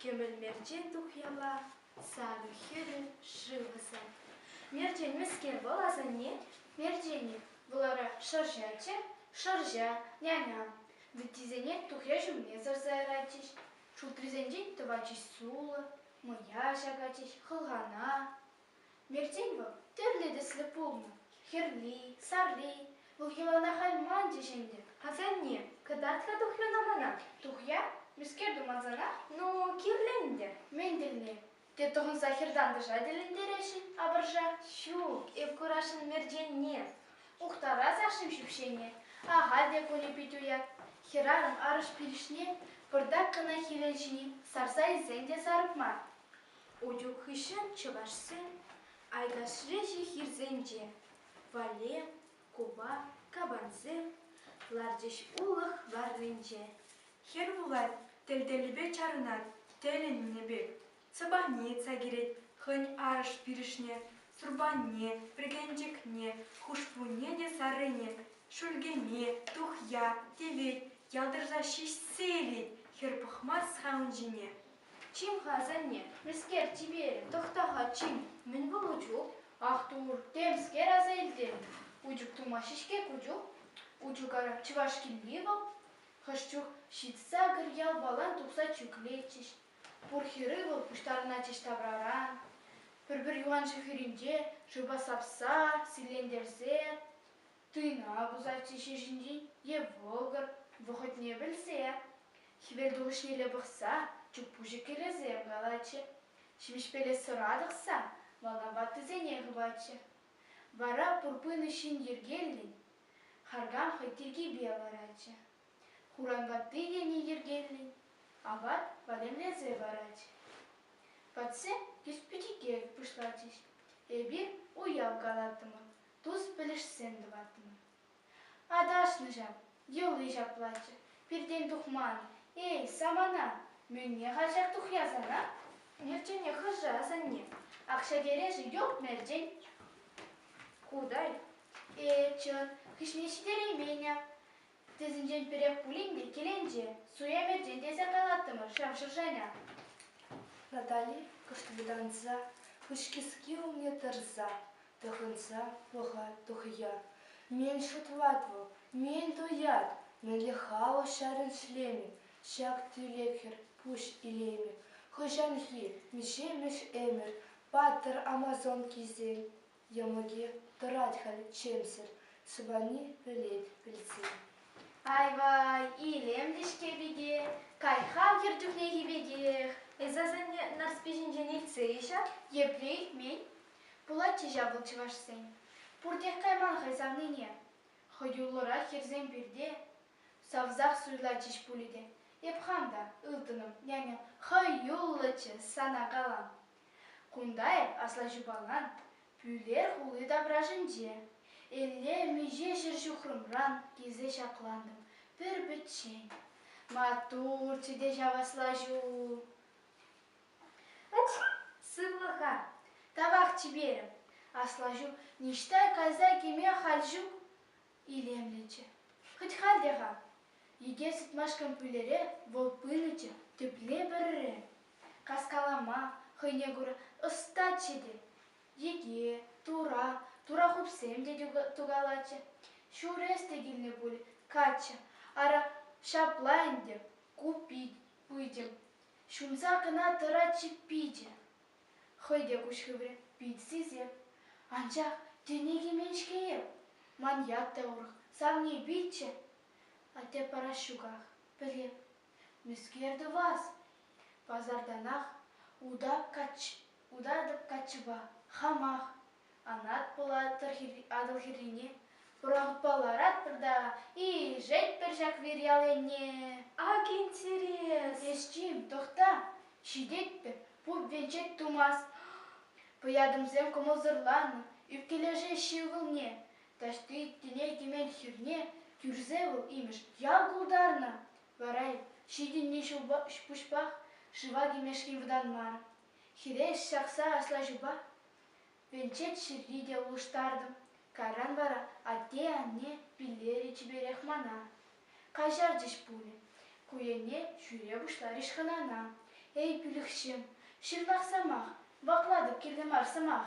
Кӗмӗл мерчен тухьяла, сарӑ хӗрӗ, шыв ӑсать. Мерчен мӗскер вӑл, асанне? Мерченӗ вӑларах шӑрҫаччӗ, шӑрҫа, няня. Вӗттисене тухья ҫумне сӑрса яратчӗҫ, шултрисенчен тӑватчӗҫ сулӑ, мӑя ҫакатчӗҫ хӑлхана, Мертен вӑл тӗрлӗ тӗслӗ пулнӑ, хӗрли, сарри. Вӑл йӑлана халь манчӗҫ ӗнтӗ. Асанне, кӑтарт-ха тухрӑн амана. Тухя, мӗскер тумансанах, ну, кирлӗ ӗнтӗ. Мӗн тӗлне? Те тӑхӑнса хӗр-тантӑша тӗлӗнтересшӗн апӑрша? Ҫук, эп курасшӑн Мертенне. Ухтарас ашшӗм ҫӳпҫене. Ахаль те кунӗ пит уят. Хӗрарӑм арӑш пилӗшне пӑртак кӑна хӗвел ҫини сарса илсен те сарӑп мар. Утюг хыҫҫӑн чӑвашсем Айдашри ҫи хирсенче Вале, Куба, кабансем ларчӗҫ улӑх варринче. Хӗр вулать, тӗл-теллипе чарӑнать, тӗлӗннӗ пек. Сӑпанетса килет хӑйӗн арӑш-пирӗшне, турпанне, пӗркенчӗкне, хушпунне те саррине, шӳлкене, тухья, тевет, ялтӑрса ҫиҫсе илет хӗр пӑхмасть халӑн ҫине. Чим-ха, асанне, мӗскер, чиперӗ, тӑхта-ха, чим, мӗн ку Лучук? Ах, тур, темскер аса илтӗм. Учӳк тумаҫҫӗ-ҫке ку чух? Учӳкара чӑваш килни вӑл? Хӑш чух ҫитса кӗр ялпалан тухса чӳклетчӗҫ. Пур хӗрӳ вӑл пуҫтарӑнатчӗҫ тавраран. Пӗр-пӗр юхан ҫул хӗрринче шывпа сапса, силлентерсе. Туйна пусатчӗ ҫеҫенен е вӑкӑр вӑхӑтне пӗлсе, хӗвелтухӑҫнелле пӑхса чуппуҫӑ кӗлӗсем калатчӗ, ҫимӗҫпеле сӑра тӑхса малтан ваттисене хыватчӗ. Вара пур пынӑ ҫын йӗркеллӗн харкам хӑй тиркипе ларатчӗ, хуран ватти тени йӗркеллӗн апат валемлесе паратчӗ. Ватсем тӳс пӗчӗкех пуҫлатчӗҫ. Эпир уяв калаттӑмӑр, тус-пӗлӗшсем тӑваттӑм. Аташнӑ ҫав, йӑли ҫаплаччӗ, пиртен тухман. Эй, самана, мӗнне халҫах тухясанах? Мерчене хӑша, асанне, акҫа-терешӗ йӑлт-мерчен. Кутай, э, чӑн, хыҫне ҫитереймен-а. Тесенчен пӗрех пулин те киленче, суя метрен тесе калаттӑмӑр ҫав шӑшаня. Натали кӑштӑртанса, кӑчкиски умне тӑрса, тӑхӑнса пӑхать тухӑя. Мӗн шутлать вӑл? Мӗн туять? Мӗнле халӑх ҫарӗн шлемӗ? Ҫак тӳлек хӗр пуҫ илеймӗ. Хӑҫанхи миҫе мӗш ӗмӗр паттӑр амазонкисен Йӑмӑкӗ тӑрать халь чӗмсӗр, Сӑпани пӗлет пӗлсе. Ай-вай, илемлӗ-ҫке пике, Кай-ха кӗр чухнехи пекех. Эс асанне Нарспи ҫинчен илтсе и ҫав? Епле илтмен? Пулатчӗ ҫав вӑл чӑвашсен. Пуртех кайман хӑй савнине. Хӑюллӑрах хӗрсем пирте савсах суйлатчӗҫ пулӗ те. Эп хам та, ылтӑнӑм, няня, хӑюллӑччӗ, сана калам. Кунта эп аслаҫупалан Пӳлер хули таврашӗнче Элле миҫе ҫӗр ҫухрӑмран килсе ҫаклантӑм пӗр-пӗччен. Маттурччӗ те ҫав аслаҫу. Укс, сывлӑха, тавах чиперӗм. Аслаҫу, ниҫта кайса кӗме халь ҫук. Илемлӗччӗ. Хӑть халь те-ха. Йӗкел сыпмашкӑн пӳлере вӑл пынӑччӗ, тепле вӗрре. Каскалама, хӑйне кура, ӑстаччӗ те. Йӗке, тура, тура хупсем те тукалатчӗ. Ҫур эс те килнӗ пуль, каччӑ. Ара, ҫапла ӗнтӗ, ку пит, пытӗм. Ҫунса кӑна тӑрать-ши пичӗ? Хӑй те куҫ хыврӗ, пит сисӗ. Анчах тӗне кӗмен-ҫке эп. Ман ят та урӑх, савни пичче. Атте парас ҫуках, пӗлеп. Мӗскер тӑвас? Пасартанах утатӑп каччӑпа. Хамах Анат Пулат Атӑлхиррине пӑрахутпа ларатпӑр та илшетпӗр ҫак вир ял енне. Ак интерес! Ӗҫчим, тӑхта, ҫитетпӗр, пуп венчет тумасть. Пӑятӑмсем кӑмӑлсӑрланнӑ, ӳпкелешеҫҫӗ ывӑлне. Таҫти тӗнер темен хирне кӳрсе вӑл имӗш ял култарнӑ. Вара ҫитӗннӗ ҫулпа пуҫпах шыва кӗмешкӗн вӑтанман. Хиреш ҫакса аслаҫупа Пинчек ҫырри те улӑштартӑм, кайран вара атте-анне пиллерӗ чиперех мана. Каҫарчӗҫ пулӗ. Ку енне ҫӳре пуҫларӗҫ хӑнана. Эй, пилӗхҫӗм, ҫырлах сӑмах, ваклатӑп кирлӗ мар сӑмах.